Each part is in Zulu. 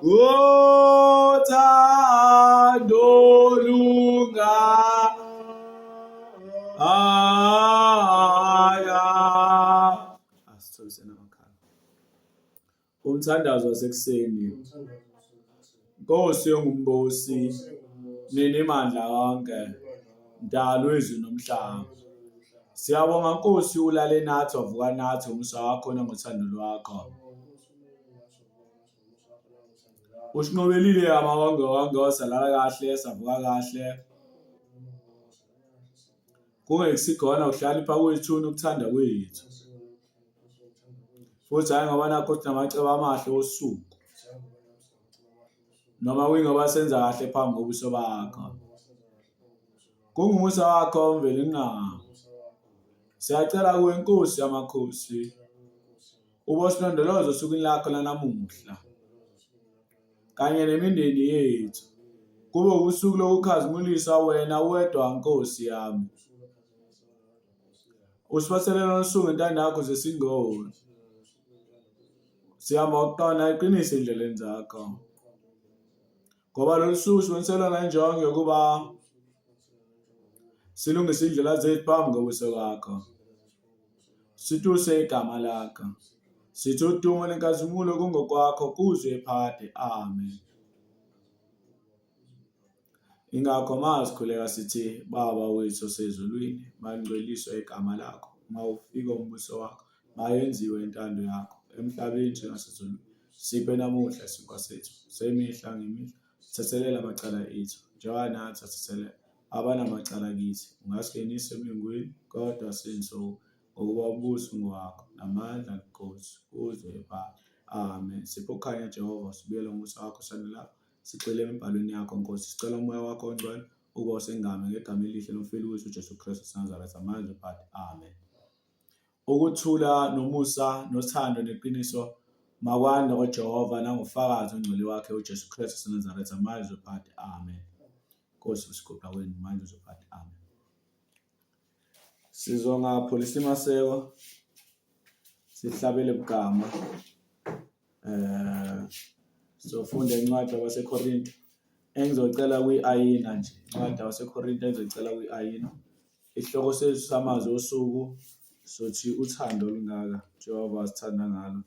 ngothando lunga aya asitholisena amakhaya umthandazo wasekuseni Nkosi yongumbusi nini mandla wonke mdalo wezulu nomhlaba siyabonga Nkosi ulale nathi wavuka nathi umusa wakho nangothando lwakho usinqobelile amawonke wonke wasalala kahle savuka kahle kungekusikhona ukuhlalipha kuyithuna ukuthanda kwethu futhi hhayi ngoba nakho sinamacebo amahle osuku noma kwingoba senza kahle phambi kobuso bakho kungumusa wakho mveli nqabo siyacela kuwe nkosi yamakhosi Ubosilondoloza osukwini lakho lanamuhla kanye nemindeni yethu. Kube usuku lokukhazimulisa wena wedwa Nkosi yami. Usibaselele usuku intando yakho zesingolo. Siyama ukuqona iqiniso endleleni zakho. ngoba lolu suku siboniselwa ngenjongo yokuba silungise indlela zethu phambi kobuso bakho situse igama lakho sithi udumo nenkazimulo kungokwakho kuzwe phade amen ingakho mazikhuleka sithi baba wethu osezulwini mangcweliswe igama lakho mawufika umbuso wakho Mayenziwe intando yakho emhlabeni njengasezulwini. Siphe namuhla isinkwa sethu semihla ngemihla. Thethelela amacala ethu njengoba nathi athethelela abanamacala kithi. Ungasingenisi emlingweni, kodwa sinsuku ngokuba ubuso ungowakho namandla nobukhosi kuze phakade. Amen. Siphe ukukhanya Jehova, sibuyele ngomusa wakho sanelapho. Sigxile emibhalweni yakho Nkosi, sicela umoya wakho ongcwele uba usengame ngegama elihle lomfeli wethu uJesu Kristu saNazaretha manje phakade. Amen. Ukuthula nomusa nothando neqiniso makwande koJehova nangoFakazi oNgcwele wakhe uJesu Kristu waseNazaretha manje uzophatha. Amen. Nkosi usigoqa wenu manje uzophatha. Amen. Sizongapholisa imaseko sihlabele bugama eh sofunda incwadi yabaseKorinte engizocela kwi-ayina nje incwadi yabaseKorinte engizocela kwi-ayina Isihloko sethu samazwi osuku sothi uthando olungaka Jehova asithanda ngalo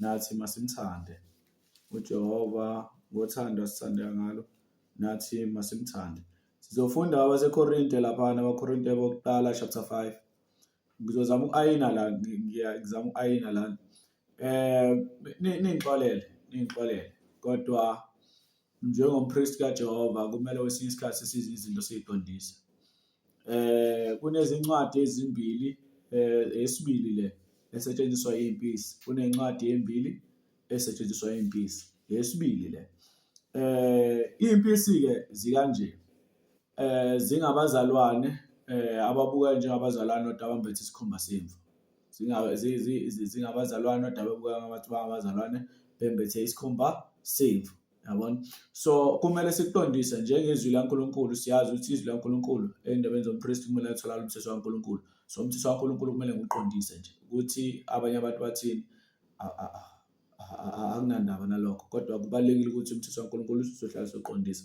nathi masimthande. UJehova ngothando asithanda ngalo nathi masimthande. Sizofunda abaseKorinte laphana abaKorinte bokuqala chapter 5. Ngizozama uku-ayina la ngizama uku-ayina la. Eh ningixolele, ningixolele kodwa Njengompristi kaJehova kumele kwesinye isikhathi size izinto siyiqondise. Eh kunezincwadi ezimbili eh esibili le esetshenziswa impisi. Kunencwadi embili esetshenziswa impisi. Yesibili le. Eh impisi ke zikanje. eh zingabazalwane eh ababuka njengabazalwane kodwa abambethe isikhumba semvu zingaba zingabazalwane kodwa ababuka ngabathi bangabazalwane bembethe isikhumba semvu yabona so kumele siqondise njengezwi laNkulunkulu siyazi ukuthi izwi laNkulunkulu endabeni zompriest kumele atholakale umthetho waNkulunkulu so umthetho waNkulunkulu kumele ngiqondise nje ukuthi abanye abantu bathini akunandaba nalokho kodwa kubalulekile ukuthi umthetho waNkulunkulu uzohlala soqondisa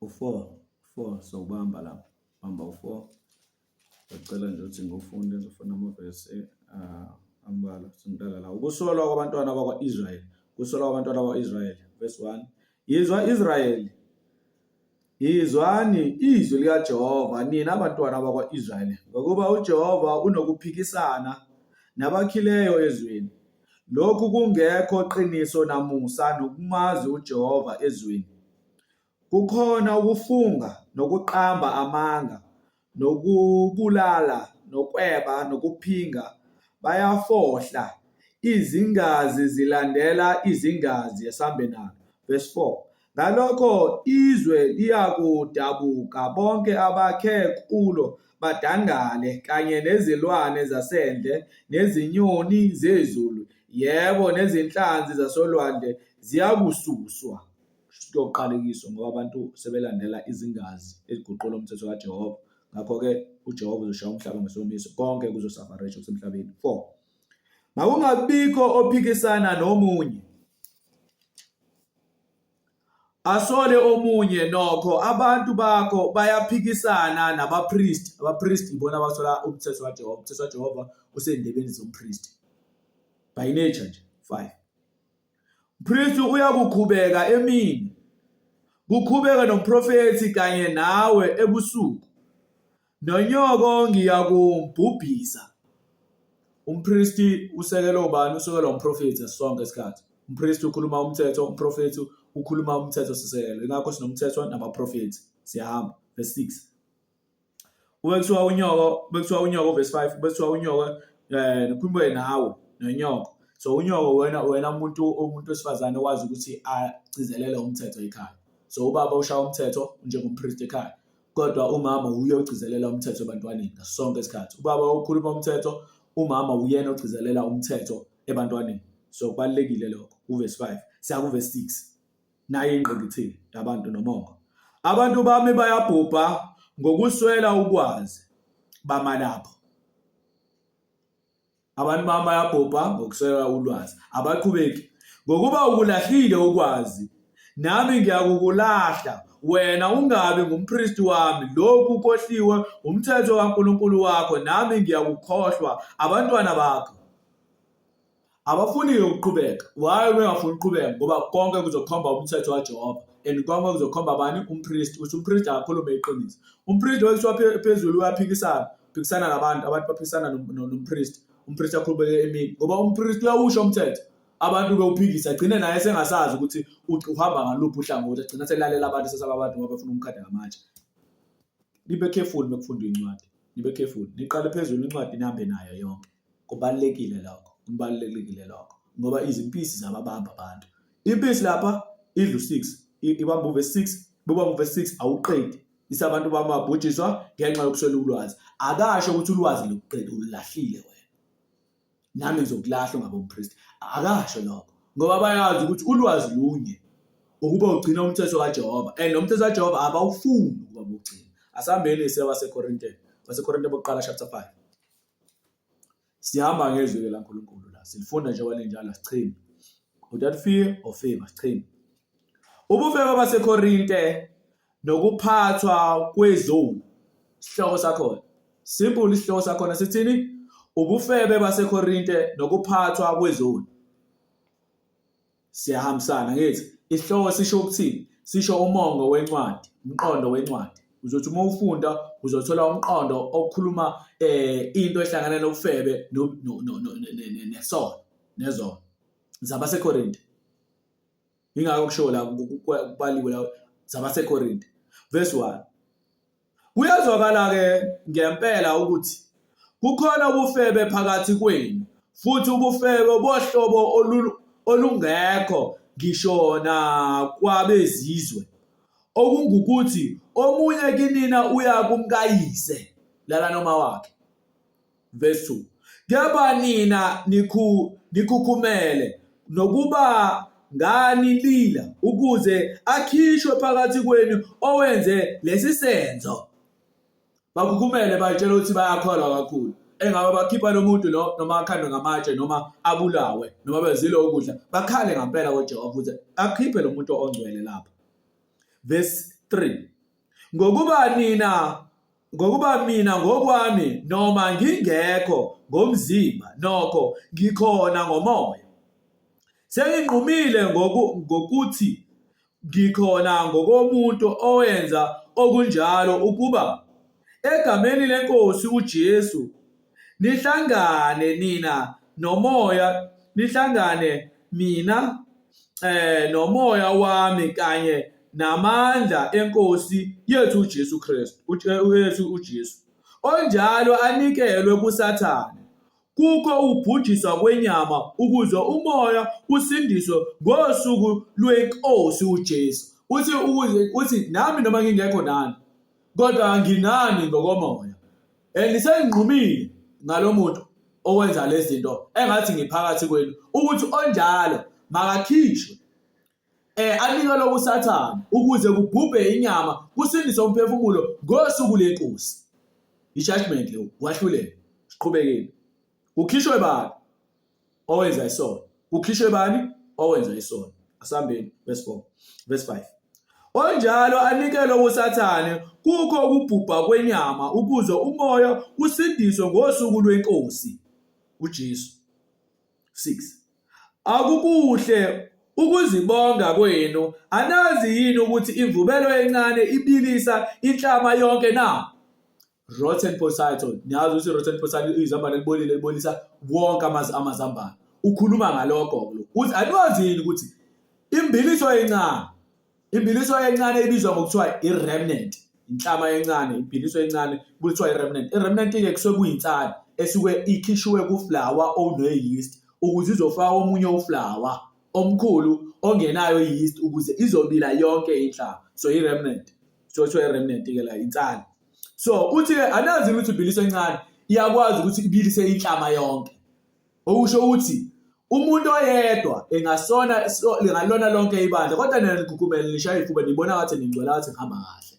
u-four four so ubamba la bamba u-four ngicela nje ukuthi ngiwufunde ngizofuna amavesi ah, ambalwa singidala la ukusolwa kwabantwana bakwa-israyeli kusolwa kwabantwana bakwa-israyeli verse one yizwa israyeli Yizwani izwi likaJehova, nina bantwana bakwa-Israyeli, ngokuba uJehova unokuphikisana nabakhileyo ezweni. Lokhu kungekho qiniso namusa nokumazi uJehova ezweni. Kukhona ukufunga nokuqamba amanga, nokubulala nokweba nokuphinga bayafohla izingazi zilandela izingazi esambenalo verse 4 ngalokho izwe liyakudabuka bonke abakhe kulo badangale kanye nezilwane zasendle nezinyoni zezulu yebo nezinhlanzi zasolwandle ziyakususwa kushuthi kuyoqalekiswa ngoba abantu sebelandela izingazi eziguqula umthetho kaJehova ngakho-ke uJehova uzoshaya umhlaba ngesomiso konke kuzosafaresha kusemhlabeni 4 makungabikho ophikisana nomunye asole omunye nokho abantu bakho bayaphikisana nabapristi abapristi ibona abasola umthetho kaJehova umthetho kaJehova usendebeni zompristi by nature nje 5 Mpristi uyakukhubeka emini, kukhubeke nomprofethi kanye nawe ebusuku, nonyoko ngiyakumbhubhisa. Umpristi usekela ubani? Usekela umprofethi sonke isikhathi. Umpristi ukhuluma umthetho, umprofethi ukhuluma umthetho sisekelo. Ingakho sinomthetho nabaprofethi. Siyahamba. Verse 6. kube kuthiwa unyoko bekuthiwa unyoko verse 5 bekuthiwa unyoko eh nikhulume nawe nonyoko so unyoko wena wena umuntu umuntu wesifazane owazi ukuthi agcizelele umthetho ekhaya so ubaba ushaya umthetho njengompriest ekhaya kodwa umama uye ogcizelela umthetho ebantwaneni ngaso sonke isikhathi ubaba ukhuluma umthetho umama uyena ogcizelela umthetho ebantwaneni so kubalulekile lokho uverse 5 siya kuverse 6 naye ingqikithi labantu nomongo abantu bami bayabhubha ngokuswela ukwazi bamalapho abantu bami bayabhubha ngokuswela ulwazi abaqhubeki ngokuba ukulahlile ukwazi nami ngiyakukulahla wena ungabi ngumpristi wami lokhu kohliwe umthetho kaNkulunkulu wakho nami ngiyakukhohlwa abantwana bakho abafuni-ke ukuqhubeka why bengafuni ukuqhubeka ngoba konke kuzokhomba umthetho kajehova and konke kuzokhomba bani umpristi ukuthi umpristi akakhulume iqiniso umpristi wekuthiwa phezulu uyaphikisana uphikisana nabantu abantu baphikisana nompristi umpristi akhulumeke emini ngoba umpristi uyawusho umthetho abantu bewuphikisa agcine naye sengasazi ukuthi uhamba ngaluphi uhlangothi agcina selalela abantu sesaba abantu ngoba befuna umkhada ngamanje nibe careful mekufundwa incwadi nibe careful niqale phezulu incwadi nihambe nayo yonke Kubalulekile lokho, kubalulekile lokho ngoba izimpisi zababamba abantu. Impisi lapha idla u-six, ibamba uverse six, bubamba uverse six awuqedi. Ise abantu bamabhujiswa ngenxa yokuswela ulwazi. Akasho ukuthi ulwazi lokuqeda ululahlile wena. Nami ngizokulahla ngabompristi. Akasho lokho ngoba bayazi ukuthi ulwazi lunye ukuba ugcina umthetho kaJehova and lo mthetho kaJehova abawufuni ukuba bugcina. Asihambeni isewa seKorinte, waseKorinte bokuqala chapter 5. Sihamba ngezwi-ke laNkulunkulu la, silifunda njengoba linjalo, sichimi. Without fear or favor, sichimi. Ubufebe baseKorinte nokuphathwa kwezulu, isihloko sakhona. Simple isihloko sakhona sithini? Ubufebe baseKorinte nokuphathwa kwezulu. Siyahambisana ngithi isihloko sisho ukuthini? Sisho umongo wencwadi, umqondo wencwadi. Uzothi uma ufunda uzothola umqondo okhuluma eh into ehlangana nobufebe nesono nezono. ZabaseKorinte. Ingakho kusho la kubaliwe la zabaseKorinte. Verse 1. Kuyezwakala-ke ngempela ukuthi kukhona ubufebe phakathi kwenu, futhi ubufebe bohlobo olungekho ngisho nakwabezizwe, okungukuthi, omunye kinina uya kumkayise, lala noma wakhe. Verse 2. Kepha nina nikhu, nikhukhumele nokuba ngani lila ukuze akhishwe phakathi kwenu owenze lesi senzo. Bakhukhumele bayitshela ukuthi bayakholwa kakhulu. Engabe bakhipha lo muntu lo noma akhandwe ngamatshe noma abulawe noma bezile ukudla bakhale ngampela koJehova ukuthi akhiphe lo muntu ongcwele lapha. Verse 3. Ngokuba nina Ngokuba mina ngokwami noma ngingekho ngomzimba nokho ngikhona ngomoya. Senginqumile ngoku, ngokuthi ngikhona ngokomuntu owenza okunjalo ukuba egameni leNkosi uJesu nihlangane nina nomoya nihlangane mina eh nomoya wami kanye namandla enkosi yethu uJesu Kristu uJesu uJesu onjalo anikelwe kusathane kukho ubhujiswa kwenyama ukuze umoya usindiswe ngosuku lwenkosi uJesu uthi uthi nami noma ngingekho nani kodwa nginani ngokomoya And senginqumile ngalomuntu owenza lezinto engathi ngiphakathi kwenu ukuthi onjalo makakhishwe eh anikwe lokusathana ukuze kubhubhe inyama kusindise umphefumulo ngosuku lenkosi i-judgment leyo wahluleka siqhubekile kukhishwe bani owenza isono kukhishwe bani owenza isono asambeni verse 4 verse 5 onjalo anikelwe kusathane kukho ukubhubha kwenyama ukuze umoya usindiswe ngosuku lwenkosi uJesu 6 akukuhle ukuzibonga kwenu anazi yini ukuthi imvubelo encane ibilisa inhlama yonke na Rotten Potato niyazi ukuthi Rotten Potato izambane elibolile libolisa wonke amazi amazambane ukhuluma ngalokho uthi anwazini ukuthi imbiliso encane imbiliso encane ibizwa ngokuthiwa i-remnant inhlama encane imbiliso encane kuthiwa i-remnant i-remnant-ke kusuke kuyinsana esuke ikhishiwe kuflawa one-yeast ukuze izofaka omunye uflawa omkhulu ongenayo i-yeast ukuze izobila yonke inhlama so i-remnant so kuthiwa i-remnant-ke la insana so uthi ke anazi ukuthi ibhilisa encane iyakwazi ukuthi ibilise inhlama yonke okusho ukuthi umuntu oyedwa engasona lingalona lonke ibandla kodwa nina nigukumele nishaya ifuba nibona ngathi ningcwela ngathi ngihamba kahle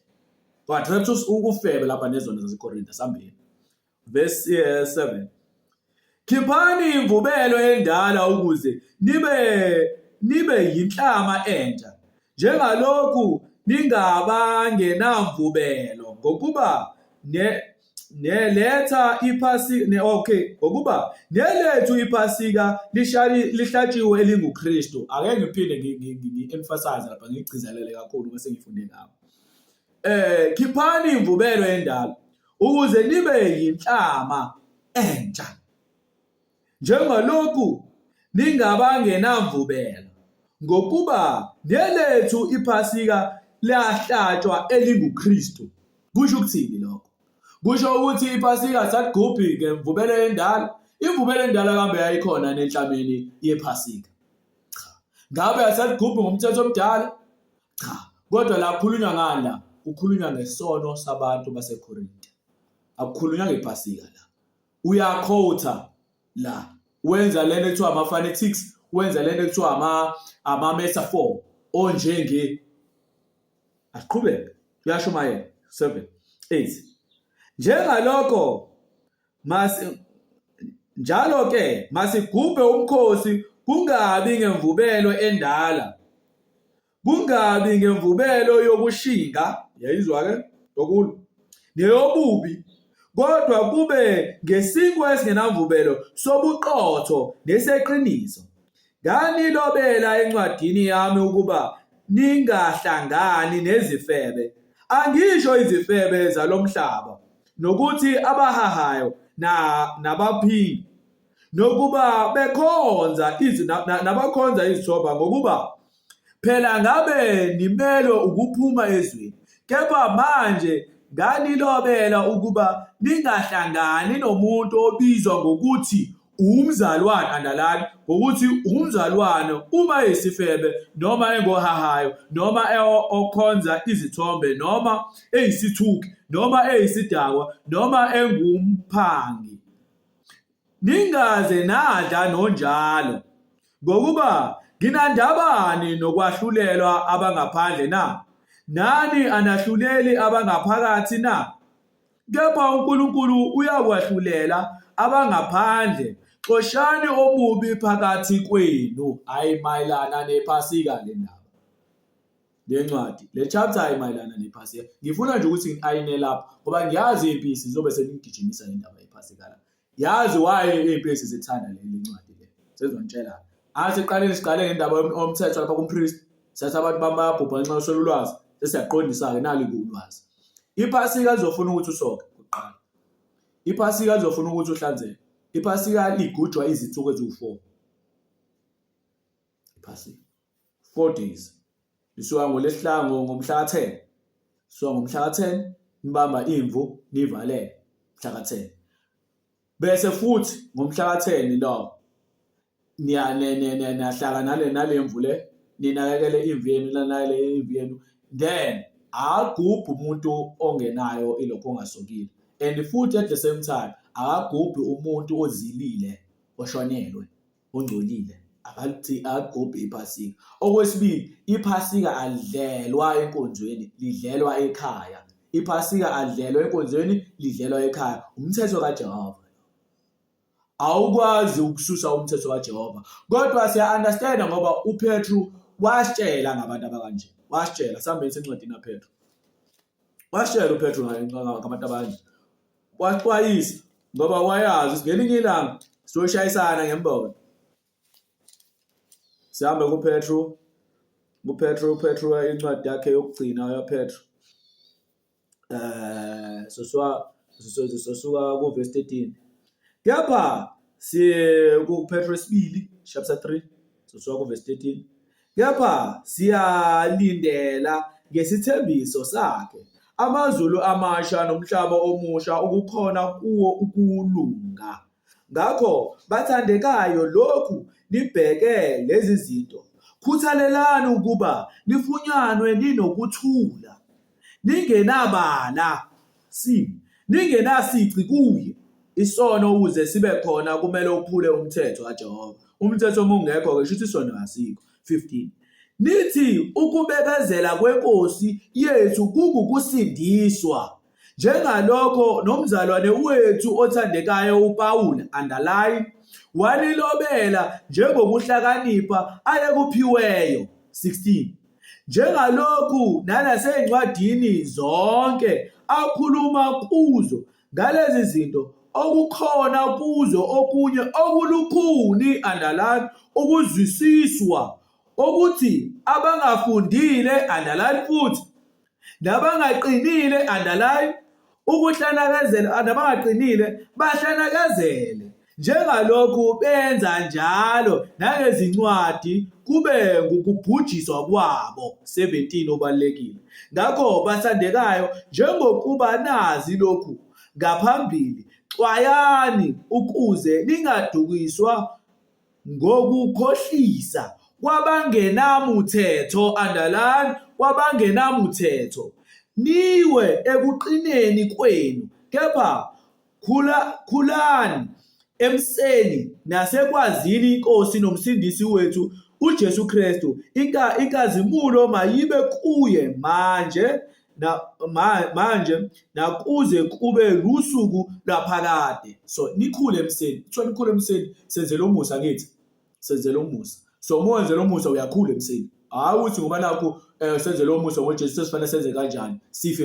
but perhaps ukufebe lapha nezona zasekorinte sambeni Verse 7. Eh, Khiphani imvubelo endala ukuze nibe nibe yinhlama entsha njengalokhu ningabangenamvubelo ngokuba ne neletha iphasika ne okay ngokuba nelethu iphasika lishali lihlatshiwe elinguKristu ake ngiphinde ngi-emphasize lapha ngigcizelele kakhulu bese ngifunde ngabo Eh khiphani imvubelo endala ukuze nibe yinhlama entsha. Njengalokhu ningabangenamvubelo ngokuba nelethu iphasika liyahlatshwa elinguKristu. Kusho ukuthini lokho? Kusho ukuthi iphasika saligubhi ngemvubelo endala. Imvubelo endala kambe yayikhona nenhlameni yephasika. Cha. Ngabe asaligubhi ngomthetho omdala? Cha, kodwa la kukhulunywa ngani la? Kukhulunywa ngesono sabantu baseKorinte. Akukhulunywa ngePhasika la. Uyakhotha la. Wenza lento ekuthiwa ama-phonetics, wenza lento ekuthiwa ama ama-metaphor onjenge asiqhubeke. Kuyashumayela 7 8 njengalokho masi njalo ke masigubhe umkhosi kungabi ngemvubelo endala kungabi ngemvubelo yokushinga yayizwa ke yokulwa neyobubi kodwa kube ngesinkwa esingenamvubelo sobuqotho neseqiniso Nganilobela encwadini yami ukuba ningahlangani nezifebe. Angisho izifebe zalo mhlaba, nokuthi abahahayo na, nabaphingi, nokuba bekhonza izi, na, na, nabakhonza izithoba, ngokuba phela ngabe nimelwe ukuphuma ezweni. Kepha manje nganilobela ukuba ningahlangani nomuntu obizwa ngokuthi Umzalwane andalani ngokuthi umzalwane uma eyisifebe noma engohahayo noma okhonza izithombe noma eyisithuki noma eyisidakwa noma engumphangi. Ningaze nadla nonjalo ngokuba nginandabani nokwahlulelwa abangaphandle na? Nani anahluleli abangaphakathi na? Kepha uNkulunkulu uyakwahlulela abangaphandle, xoshani omubi phakathi kwenu. Hhayi mayelana nephasika le ndaba le ncwadi le chapter ayimayelana nephasika ngifuna nje ukuthi ngiayine lapho ngoba ngiyazi impisi zobe senigijimisa le ndaba yephasika la Yazi why izimpisi zithanda leli ncwadi le. Sezontshela. Asiqaleni siqale ngendaba yomthetho lapha kumpriest. Sathi abantu bamayabhubha ngenxa yoswela ulwazi. Sesiyaqondisa-ke nali ulwazi. Iphasika lizofuna ukuthi usoke kuqala. Iphasika lizofuna ukuthi uhlanzeke. Iphasika ligujwa izinsuku eziwu-4. Iphasika. Forties lisuka ngolesihlanu ngomhla ka-10 lisuka ngomhla ka-10 nibamba imvu nivalele mhla ka-10 bese futhi ngomhla ka-10 lo niyahlaka nale nale mvu le ninakekele imvu yenu nanakekele imvu yenu then akagubhi umuntu ongenayo ilokho ongasokile and futhi at the same time akagubhi umuntu ozilile oshonelwe ongcolile akagubhi iphasika. Okwesibili, iphasika alidlelwa enkonzweni, lidlelwa ekhaya. Iphasika alidlelwa enkonzweni, lidlelwa ekhaya. Umthetho kaJehova. Awukwazi ukususa umthetho kaJehova. Kodwa siya-understanda ngoba uPetru wasitshela ngabantu abakanje. Wasitshela, sihambeni sencwadini kaPetru. washela uPetru ngabantu abanje waxwayisa ngoba wayazi ukuthi ngelinye ilanga sizoshayisana ngembono sihambe kuPetru kuPetru uPetru incwadi yakhe yokugcina yaPetru eh sosuka sosuka kuverse 13 kepha si kuPetru isibili chapter 3 sosuka kuverse 13 Kepha siyalindela ngesithembiso sakhe, amazulu amasha nomhlaba omusha okukhona kuwo ukulunga. Ngakho, bathandekayo, lokhu nibheke lezi zinto, khuthalelani ukuba nifunyanwe ninokuthula. lingenabala, sin, lingenasici kuye. Isono ukuze sibe khona kumele uphule umthetho kaJehova. Umthetho uma ungekho-ke kusho ukuthi isono asikho. 15. Nithi ukubekezela kweNkosi yethu kungukusindiswa. Njengalokho nomzalwane wethu othandekayo uPawulu, underline, walilobela njengokuhlakanipha ayekuphiweyo. 16. njengalokhu nanasey'ncwadini zonke akhuluma kuzo ngalezi zinto okukhona kuzo okunye okulukhuni andalani ukuzwisiswa okuthi abangafundile andalani futhi nabangaqinile underline ukuhlanakazela nabangaqinile bahlanakazele njengalokhu benza njalo nangezincwadi kube ngukubhujiswa kwabo 17 obalekile ngakho bathandekayo njengokuba nazi lokhu ngaphambili xwayani ukuze ningadukiswa ngokukhohlisa kwabangenamuthetho, underline, kwabangenamuthetho, niwe ekuqineni kwenu, kepha khula, khulani emseni nasekwazini iNkosi noMsindisi wethu uJesu Kristu, inkazimulo mayibe kuye manje na, ma, manje nakuze kube lusuku lwaphakade so nikhule emseni kuthiwa nikhule emseni senzele umusa kithi senzele umusa so uma wenzela umusa uyakhula emseni hhayi ukuthi ngoba nakho um eh, senzele umusa ngojesu sesifanele senze kanjani sife